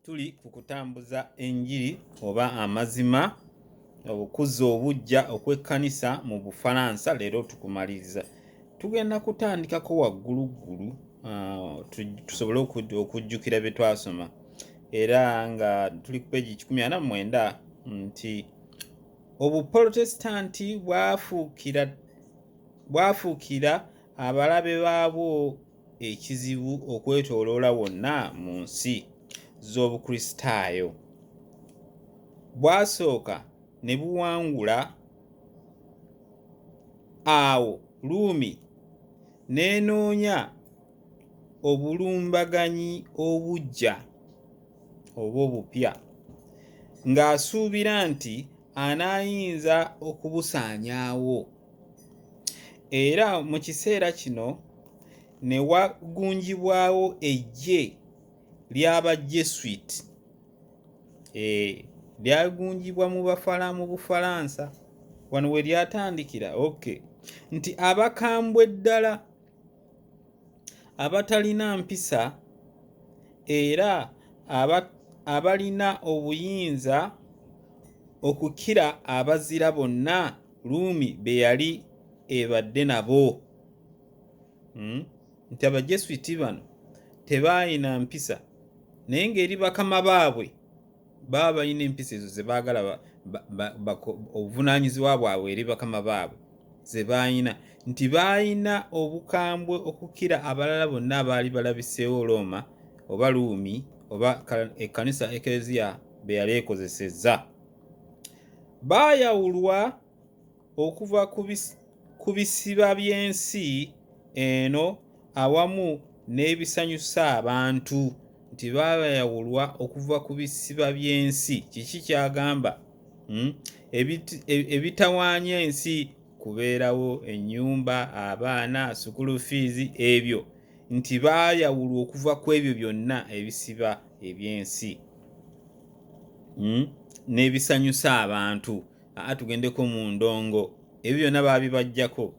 tuli ku kutambuza enjiri oba amazima okuzza obuggya okw'ekkanisa mu bufalansa leero tukumaliriza tugenda kutandikako wagguluggulu ah, tusobole okujjukira bye twasoma era nga tuli ku peegi kikumi ana mwenda nti obupolotesitanti bwafuukira bwafuukira abalabe baabwo ekizibu okwetooloola wonna mu nsi z'Obukristaayo. Bwasooka ne buwangula awo Ruumi n'enoonya obulumbaganyi obuggya oba obupya ng'asuubira nti anaayinza okubusaanyaawo. era mu kiseera kino ne wagunjibwawo eggye ly'aba Jesuit eh, lyagunjibwa mu bafala mu Bufalansa wano we lyatandikira okay nti abakambwe ddala abatalina mpisa era abalina obuyinza okukira abazira bonna ruumi be yali ebadde nabo hmm? nti abajesuiti bano tebaalina mpisa naye ng'eri bakama baabwe baba balina empisa ezo ze baagala obuvunaanyizibwa bwabwe eri bakama baabwe ze baalina nti baalina obukambwe okukira abalala bonna abaali balabiseewo looma oba luumi oba ekkanisa ekereziya be yali ekozesezza baayawulwa okuva ku bisiba by'ensi eno awamu n'ebisanyusa abantu nti baayawulwa okuva ku bisiba by'ensi kiki kyagamba hmm? e, ebitawaanya ensi kubeerawo ennyumba abaana sukulu fiizi ebyo nti baayawulwa okuva ku ebyo byonna ebisiba eby'ensi hmm? n'ebisanyusa abantu aa tugendeko mu ndongo ebyo byonna baabibajjako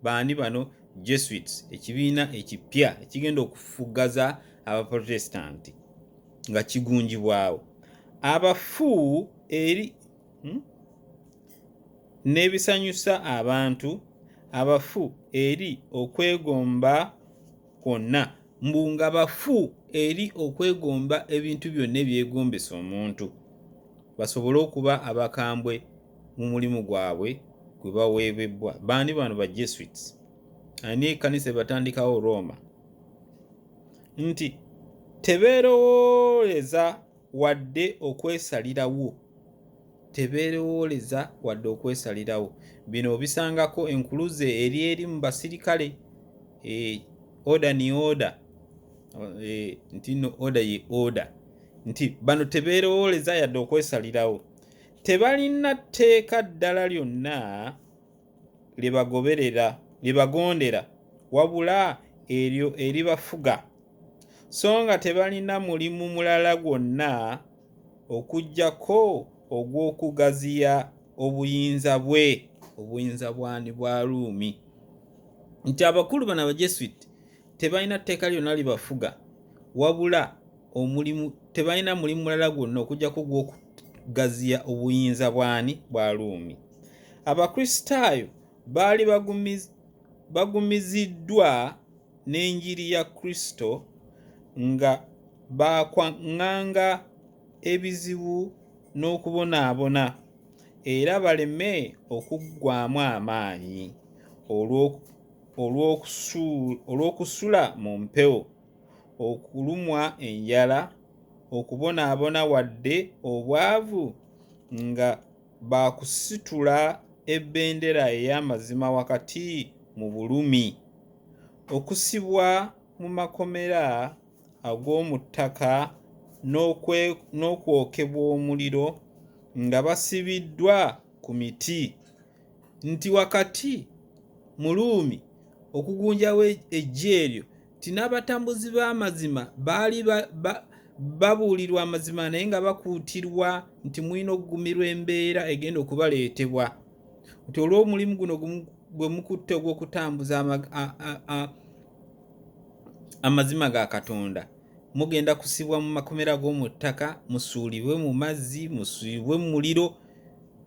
baani bano jesuits ekibiina ekipya ekigenda okufugaza abaprotestanti nga kigunjibwawo abafu eri hmm? n'ebisanyusa abantu abafu eri okwegomba kwonna, mbu nga bafu eri okwegomba ebintu byonna ebyegombesa omuntu, basobole okuba abakambwe mu mulimu gwabwe gwe baweebebbwa. Baani bano ba Jesuits? Ani ekkanisa ebatandikawo Rooma? Nti tebeerowooleza wadde okwesalirawo tebeerowooleza wadde okwesalirawo bino obisangako enkuluze eri eri mu basirikale eh, oda ni oda eh, nti no oda ye oda nti bano tebeerowooleza yadde okwesalirawo tebalina tteeka ddala lyonna lye bagoberera lye bagondera wabula eryo eribafuga so nga tebalina mulimu mulala gwonna okuggyako ogw'okugaziya obuyinza bwe obuyinza bwani bwa Ruumi nti abakulu bano Abajesuit tebalina tteeka lyonna libafuga wabula omulimu tebalina mulimu mulala gwonna okuggyako ogw'okugaziya obuyinza bwani bwa Ruumi. Abakristaayo baali bagumiziddwa n'enjiri ya Kristo nga baakwaŋŋanga ebizibu n'okubonaabona era baleme okuggwaamu amaanyi olw'okusula mu mpewo, okulumwa enjala, okubonaabona wadde obwavu nga baakusitula ebendera ey'amazima wakati mu bulumi. Okusibwa mu makomera ag'omu ttaka n'okwokebwa omuliro nga basibiddwa ku miti, nti wakati mu Ruumi okugunjawo eggye eryo nti n'abatambuzi b'amazima baali babuulirwa amazima naye nga bakuutirwa nti mulina okugumirwa embeera egenda okubaleetebwa nti olw'omulimu guno gwe mukutte ogw'okutambuza amazima ga katonda mugenda kusibwa mu makomera g'omu ttaka musuulibwe mu mazzi musuulibwe mu muliro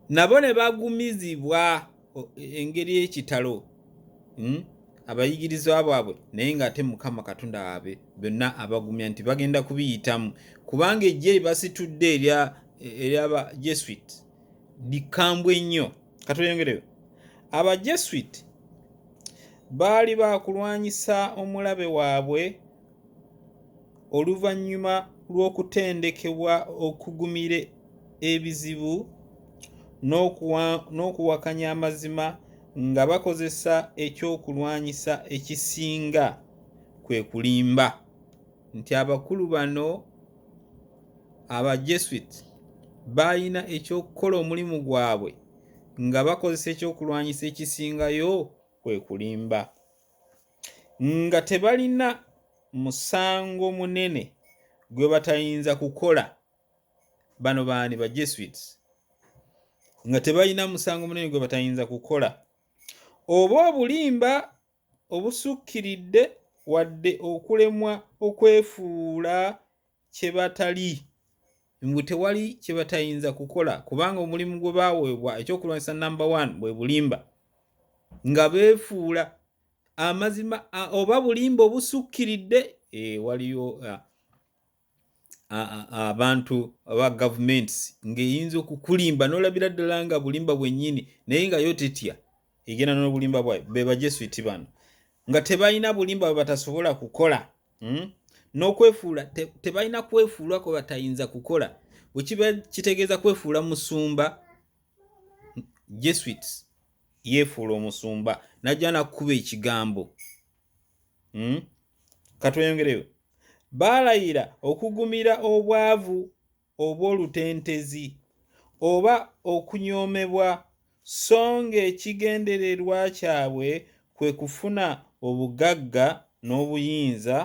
nabo ne bagumizibwa engeri ekitalo hmm? abayigirizwa bwabwe naye ng'ate mukama katonda waabwe byonna abagumya nti bagenda kubiyitamu kubanga ejje basitudde eryaba jesuit likambwe nnyo katweyongereyo aba jesuit baali bakulwanyisa omulabe waabwe oluvannyuma lw'okutendekebwa okugumira ebizibu n'okuwakanya amazima nga bakozesa ekyokulwanyisa ekisinga kwe kulimba nti abakulu bano aba jesuit baalina ekyokukola omulimu gwabwe nga bakozesa ekyokulwanyisa ekisingayo kwe kulimba nga tebalina musango munene gwe batayinza kukola bano baani ba jesuits nga tebalina musango munene gwe batayinza kukola oba obulimba obusukkiridde wadde okulemwa okwefuula kye batali mbu tewali kye batayinza kukola kubanga omulimu gwe baaweebwa ekyokulwanyisa namba one bwe bulimba nga beefuula amazima oba bulimba obusukkiridde eh, waliyo ah, abantu aba gavumenti ng'eyinza okukulimba n'olabira ddala nga bulimba bwennyini naye nga yo tetya egenda n'obulimba bwayo be bajesuiti bano nga tebalina bulimba bwe batasobola kukola hmm? n'okwefuula tebalina kwefuula kwe batayinza kukola wekiba kitegeeza kwefuula musumba jesuit yeefuula omusumba najja nakukuba ekigambo hmm? katweyongereyo baalayira okugumira obwavu obw'olutentezi oba okunyoomebwa so ng'ekigendererwa kyabwe kwe kufuna obugagga n'obuyinza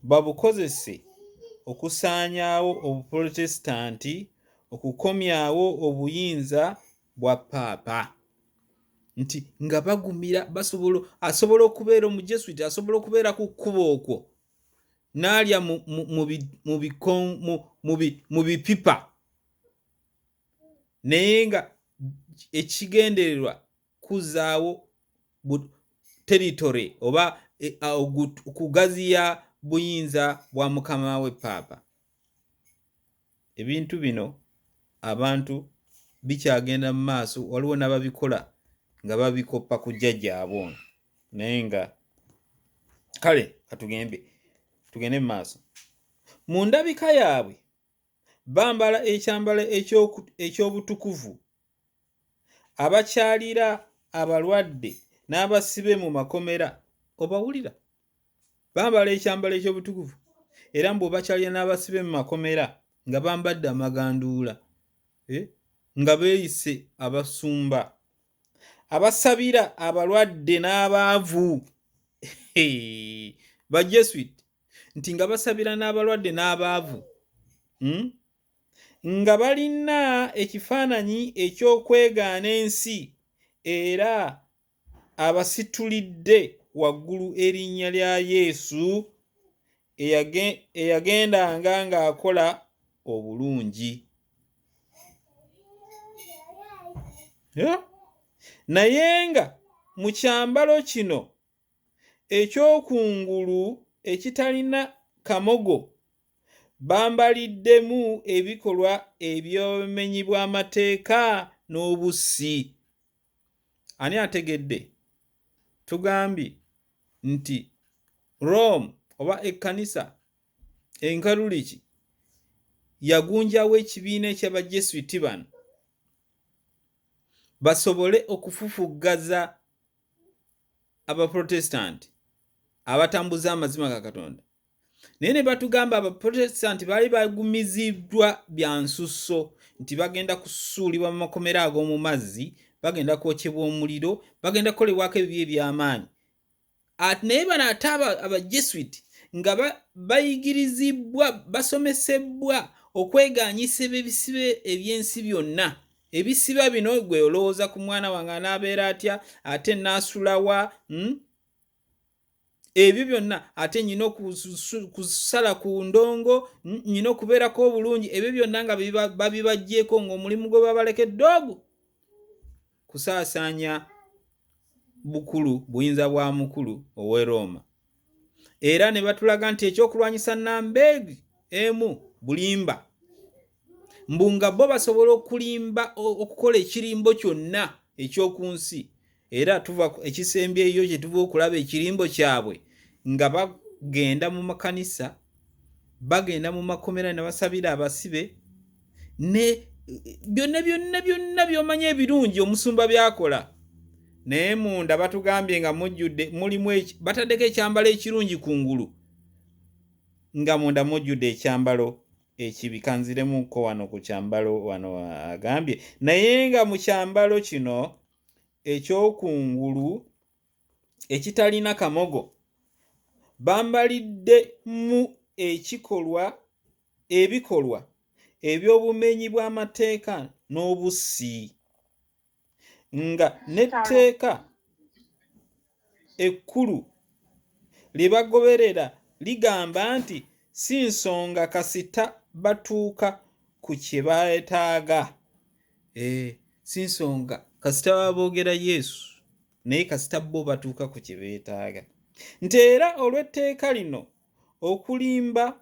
babukozese okusaanyaawo Obupolotesitanti, okukomyawo obuyinza bwa Paapa. nti nga bagumira basobola asobola okubeera Omujesuiti asobola okubeera ku kkubo okwo. n'alya mu bipipa naye nga ekigendererwa kuzaawo teritore oba e, kugaziya buyinza bwa mukama we paapa ebintu bino abantu bikyagenda mu maaso waliwo n'ababikola nga babikoppa ku jjajjaabwe ono naye nga kale katugembe tugende mu maaso mu ndabika yaabwe bambala ekyambalo eky'obutukuvu abakyalira abalwadde n'abasibe mu makomera obawulira bambala ekyambalo eky'obutukuvu era mbu obakyalira n'abasibe mu makomera nga bambadde amaganduula eh, nga beeyise abasumba abasabira abalwadde n'abaavu bajesuit nti nga basabira n'abalwadde n'abaavu hmm? nga balina ekifaananyi eky'okwegaana ensi era abasitulidde waggulu erinnya lya Yesu eyagendanga ng'akola obulungi. Naye nga mu kyambalo kino eky'okungulu ekitalina kamogo, bambaliddemu ebikolwa eby'obumenyi bw'amateeka n'obussi. Ani ategedde? Tugambye nti Rome oba ekkanisa enkaluliki yagunjawo ekibiina eky'abajesuiti bano basobole okufufuggaza abaprotestanti abatambuza amazima ga katonda naye ne batugamba abaprotestanti baali bagumiziddwa bya nsusso nti bagenda kusuulibwa mu makomera ag'omu mazzi bagenda kwokyebwa omuliro bagenda kukolebwako ebibi eby'amaanyi naye bano ate abajesuit nga bayigirizibbwa basomesebbwa okweganyisa ebisibe eby'ensi byonna ebisiba bino gwe olowooza ku mwana wange anaabeera atya ate naasulawa hmm? ebyo byonna ate nyina okusala ku ndongo nyina okubeerako obulungi ebyo byonna nga babibajjeeko ngaomulimu gwe babalekedde ogwo kusaasaanya bukulu buyinza bwa mukulu ow'e rooma era ne batulaga nti ekyokulwanyisa nambeegi emu bulimba mbu nga bo basobola okulimba okukola ekirimbo kyonna ekyoku nsi era tuva ekisembyeyo kye tuva okulaba ekirimbo kyabwe nga bagenda mu makanisa bagenda mu makomera ne basabira abasibe ne byonna byonna byonna byomanya ebirungi omusumba byakola naye munda batugambye nga mujjudde mulimu bataddeko ekyambalo ekirungi ku ngulu nga munda mujjudde ekyambalo ekibi kanziremuko wano ku kyambalo wano agambye naye nga mu kyambalo kino eky'okungulu ekitalina kamogo bambalidde mu ekikolwa ebikolwa eby'obumenyi bw'amateeka n'obussi nga n'etteeka ekkulu lye bagoberera ligamba nti si nsonga kasita batuuka ku kye beetaaga. Eh, si nsonga kasita baba boogera Yesu naye kasita bo batuuka ku kye beetaaga. Nti era olw'etteeka lino okulimba,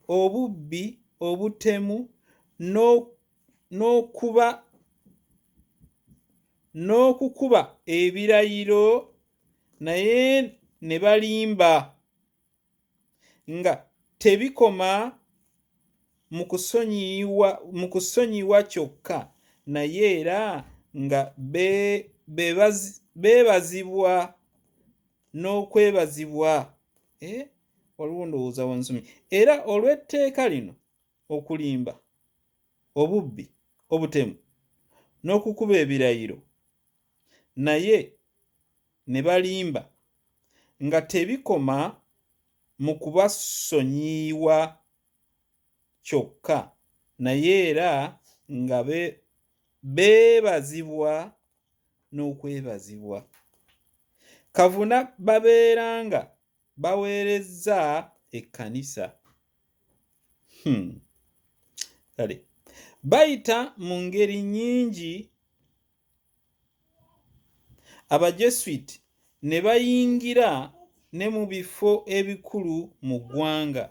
obubbi, obutemu n'ok n'okuba n'okukuba ebirayiro naye ne balimba nga tebikoma mu kusonyiyiwa mu kusonyiwa kyokka naye era nga beebazibwa n'okwebazibwa eh, waliwo ndowooza wansomye era olw'etteeka lino okulimba, obubbi, obutemu n'okukuba ebirayiro naye ne balimba nga tebikoma mu kubasonyiywa kyokka naye era nga beebazibwa n'okwebazibwa. Kavuna babeera nga baweerezza ekkanisa hmm. kale bayita mu ngeri nnyingi abajesuit ne bayingira ne mu bifo ebikulu mu ggwanga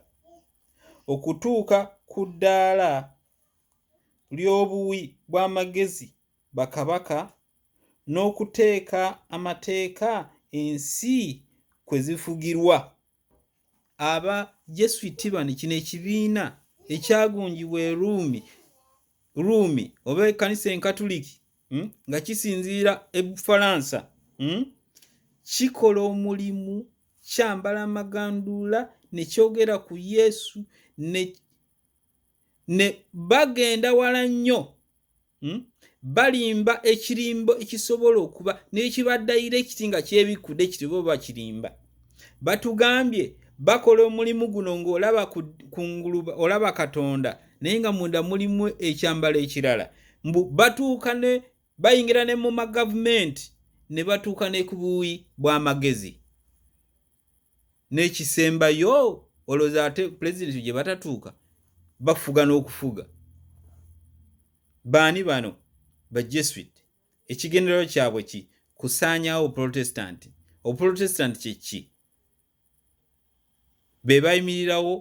okutuuka ku ddaala ly'obuwi bw'amagezi bakabaka n'okuteeka amateeka ensi kwe zifugirwa. Abajesuiti bano kino ekibiina ekyagunjibwa e Ruumi, Ruumi oba ekkanisa Enkatuliki hmm, nga kisinziira e Bufalansa hmm, kikola omulimu kyambala amaganduula ne kyogera ku Yesu ne ne bagenda wala nnyo hmm? balimba ekirimbo ekisobola okuba nekibadayira ekiti nga kyebikkude kiti bo bakirimba batugambye bakola omulimu guno ngaolaba kunguluba olaba katonda naye nga munda mulimu ekyambalo ekirala mbu batuuka ne bayingira ne mu magavumenti ne batuuka ne ku buuyi bw'amagezi n'ekisembayo olowooza ate pulezidenti gye batatuuka bafuga n'okufuga baani bano bajesuit ekigenderero kyabwe ki kusaanyawo obuprotestanti obuprotestanti kyeki be bayimirirawo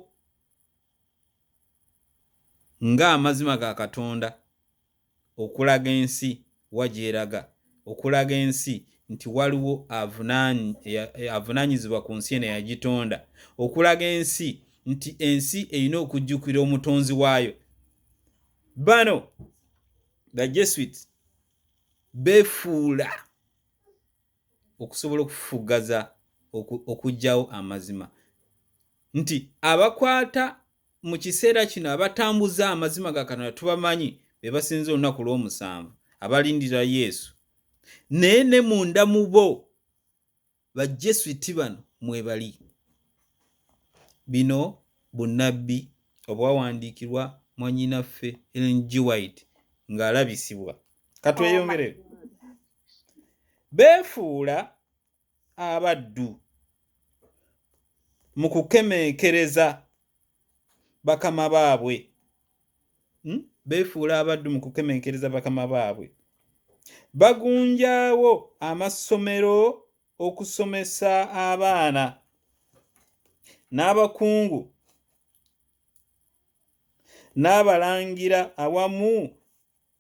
ng'amazima ga katonda okulaga ensi wa gyeraga okulaga ensi nti waliwo avunanyizibwa ku nsi eno yagitonda okulaga ensi nti ensi erina okujjukira omutonzi waayo bano the jesuit befuula okusobola okufugaza okugyawo amazima nti abakwata mu kiseera kino abatambuza amazima ga Katonda tubamanyi be basinza olunaku lw'omusanvu abalindira Yesu naye ne munda mu bo bajjesuiti bano mwebali bino bunnabbi obwawandiikirwa mwanyinaffe Ellen G. White ng'alabisibwa katweyongere beefuula abaddu mu kukemeekereza bakama baabwe hmm? beefuula abaddu mu kukemeekereza bakama baabwe bagunjaawo amasomero okusomesa abaana n'abakungu n'abalangira awamu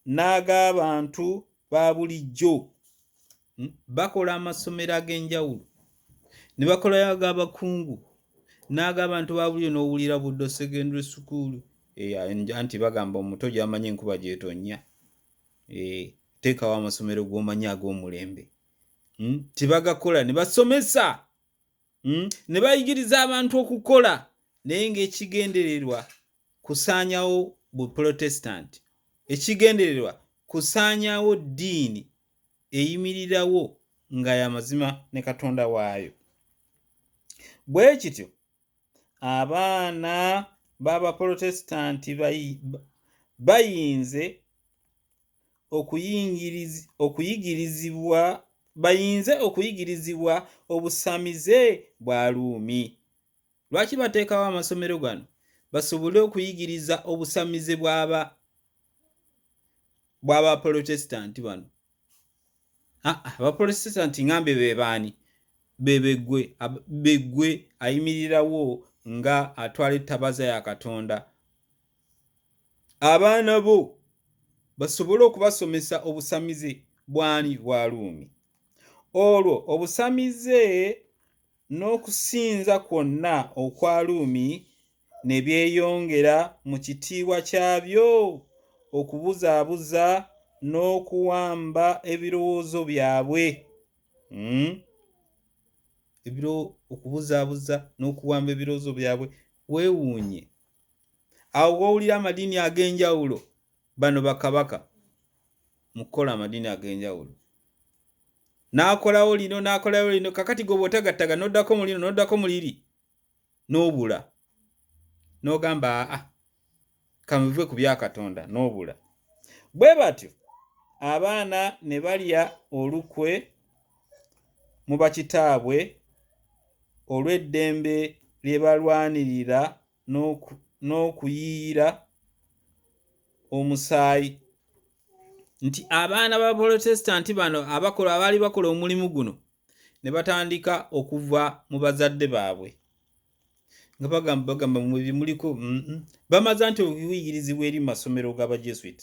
n'ag'abantu ba bulijjo hmm? bakola amasomero ag'enjawulo ne bakolayo ag'abakungu n'ag'abantu ba bulijjo n'owulira buddo secondary school eh, anti bagamba omuto gy'amanyi enkuba gyetonnya eh, teekawo amasomero g'omanyi ag'omulembe hmm? tibagakola ne basomesa hmm? ne bayigiriza abantu okukola naye ng'ekigendererwa kusaanyawo Buprotestanti. Ekigendererwa kusaanyawo ddiini eyimirirawo nga ya mazima ne Katonda waayo. Bwe kityo, abaana b'Abaprotestanti bayinze okuyigirizibwa bayinze okuyigirizibwa obusamize bwa Ruumi. Lwaki bateekawo amasomero gano? Basobole okuyigiriza obusamize bw'aba bw'Abapolotesitanti bano. Ah, ah, Abapolotesitanti ngambe be baani? Be begwe begwe ayimirirawo nga atwala ettabaza ya Katonda. Abaana bo basobole okubasomesa obusamize bw'ani bwa Ruumi. Olwo obusamize n'okusinza kwonna okwa Ruumi ne byeyongera mu kitiibwa kyabyo, okubuzaabuza n'okuwamba ebirowoozo byabwe. Hmm? Ebiro, okubuzaabuza n'okuwamba ebirowoozo byabwe. Weewuunye awo w'owulira amadiini ag'enjawulo bano bakabaka mu kukola amadiini ag'enjawulo n'akolawo lino n'akolawo lino kakati gwe bw'otagattaga n'oddako mu lino n'oddako mu liri n'obula n'ogamba aa kamuve ku bya katonda n'obula bwe batyo abaana ne balya olukwe mu bakitaabwe olw'eddembe lye balwanirira n'okuyiira omusaayi nti abaana b'Abaprotestanti bano abakola abaali bakola omulimu guno ne batandika okuva mu bazadde baabwe nga bagamba bagamba mwe bye muliko mm, mm. bamaza nti okuyigirizibwa eri mu masomero g'Abajesuit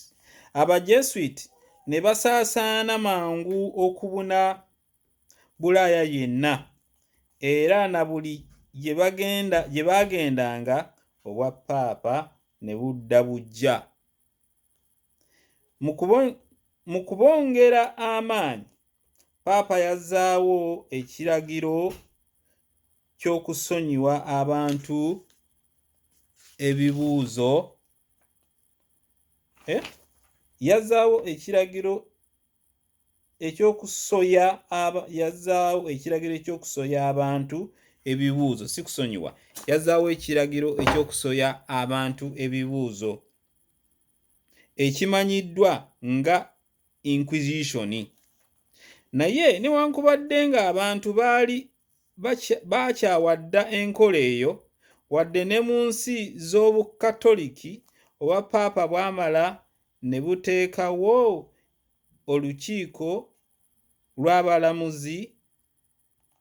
Abajesuit ne basaasaana mangu okubuna Bulaaya yenna era na buli gye bagenda gye baagendanga obwa Paapa ne budda buggya. Mu kubo mu kubongera amaanyi, Paapa yazzaawo ekiragiro ky'okusonyiwa abantu ebibuuzo eh yazzaawo ekiragiro. ekyokusoya aba yazaawo ekiragiro ekyokusoya abantu ebibuuzo si kusonyiwa yazaawo ekiragiro ekyokusoya abantu ebibuuzo ekimanyiddwa nga inquisition naye newankubadde nga abantu baali bakyawa dda enkola eyo wadde ne mu nsi z'obukatoliki oba paapa bwamala ne buteekawo olukiiko lw'abalamuzi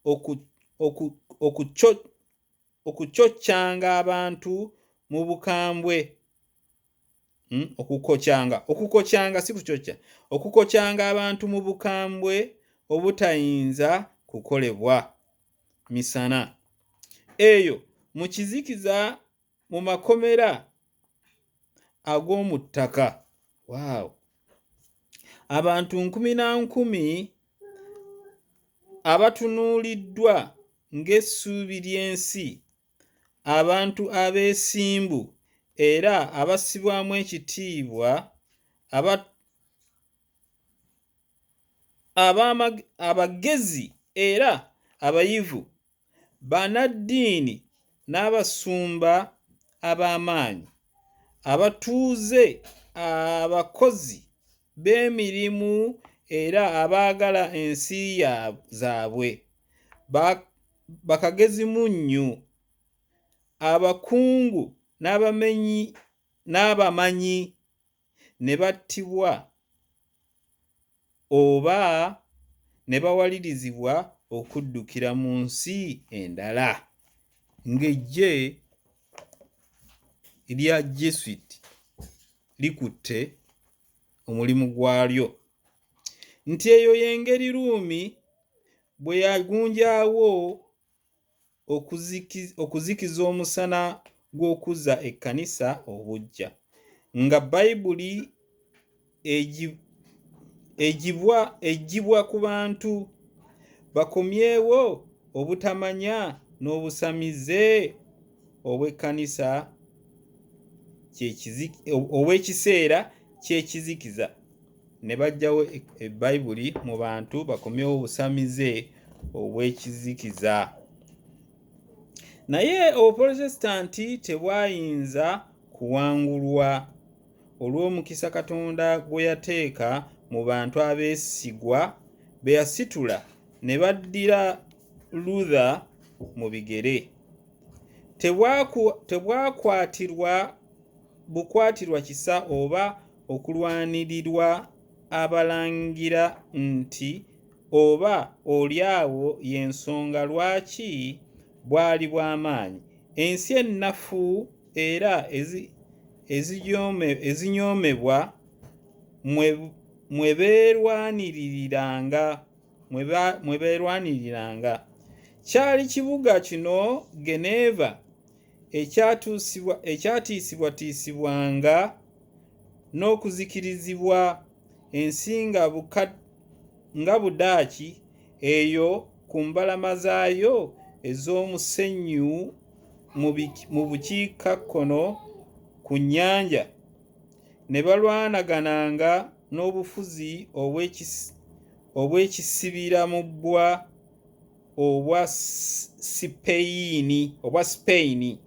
oku, oku, okuco, okucoccanga abantu mu bukambwe hmm? okukocyanga okukocyanga si kucocca okukocyanga abantu mu bukambwe obutayinza kukolebwa misana eyo mu kizikiza mu makomera ag'omu ttaka waawo abantu nkumi na nkumi abatunuuliddwa ng'essuubi ly'ensi abantu abeesimbu era abassibwamu ekitiibwa abagezi era abayivu bannaddiini n'abasumba ab'amaanyi, abatuuze, abakozi b'emirimu era abaagala ensi zaabwe, bakagezimunnyu, abakungu n'abamenyi n'abamanyi ne battibwa. oba ne bawalirizibwa okuddukira mu nsi endala ng'eggye lya Jesuit likutte omulimu gwalyo nti eyo y'engeri Ruumi bwe yagunjaawo okuzikiza omusana gw'okuzza ekkanisa obuggya nga bayibuli egibwa egibwa ku bantu bakomyewo obutamanya n'obusamize obw'ekkanisa ow'ekiseera ky'ekizikiza ne baggyawo e- bayibuli mu bantu bakomyewo obusamize obw'ekizikiza naye obupolotesitanti tebwayinza kuwangulwa olw'omukisa katonda gwe yateeka mu bantu abeesigwa be yasitula ne baddira luther mu bigere Tebwaku- tebwakwatirwa bukwatirwa kisa oba okulwanirirwa abalangira nti oba oli awo y'ensonga lwaki bwali bwa maanyi. Ensi ennafu era ezinyoomebwa mwe beerwaniriranga. Kyali kibuga kino Geneva. ekyatiisibwatiisibwanga n'okuzikirizibwa ensi nga bukadde nga Budaaki eyo ku mbalama zaayo ez'omusenyu mu bukiikakkono ku nnyanja, ne balwanagananga n'obufuzi obw'ekisibiramubbwa. obwa Sipeyini obwa Sipeyini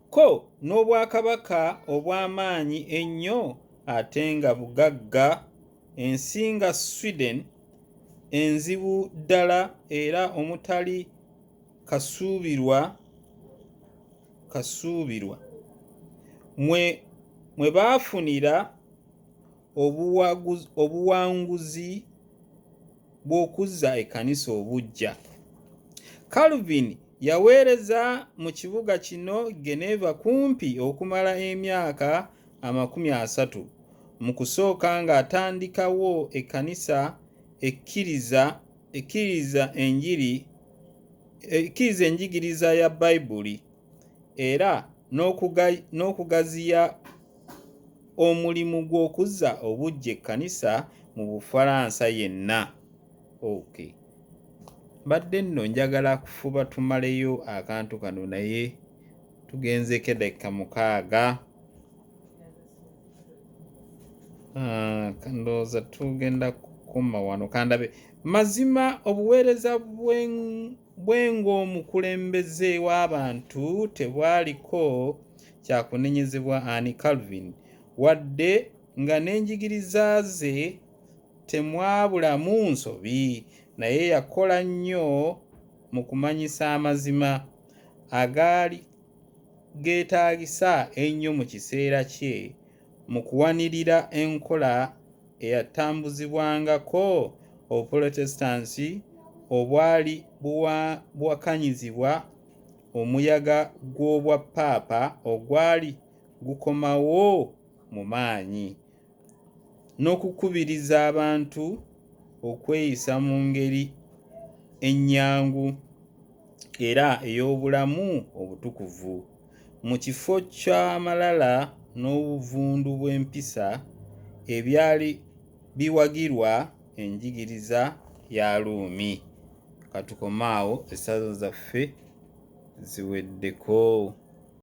ko n'obwakabaka obw'amaanyi ennyo ate nga bugagga ensi nga Sweden enzibu ddala era omutali kasuubirwa kasuubirwa mwe mwe baafunira obuwanguzi bw'okuzza ekkanisa obuggya. Calvin yaweereza mu kibuga kino Geneva kumpi okumala emyaka amakumi asatu, mu kusooka ng'atandikawo ekkanisa ekkiriza ekkiriza enjiri ekkiriza enjigiriza ya Baibuli era n'okugaziya omulimu gw'okuzza obuggya ekkanisa mu Bufaransa yenna. Ok. Mbadde nno njagala kufuba tumaleyo akantu kano naye tugenzeeko eddakika mukaaga. Ah, ndowooza tugenda kukoma wano kandabe mazima obuweereza bwe bwe ng'omukulembeze w'abantu tebwaliko kya kunenyezebwa ani Calvin, wadde nga n'enjigiriza ze temwabulamu nsobi, naye yakola nnyo mu kumanyisa amazima agaali geetaagisa ennyo mu kiseera kye mu kuwanirira enkola eyatambuzibwangako Obuprotestanti obwali buwakanyizibwa omuyaga gw'obwa Paapa ogwali gukomawo mu maanyi, n'okukubiriza abantu okweyisa mu ngeri ennyangu. era ey'obulamu obutukuvu. Mu kifo ky'amalala n'obuvundu bw'empisa ebyali biwagirwa enjigiriza ya Ruumi. Ka tukome awo, essaza zaffe ziweddeko.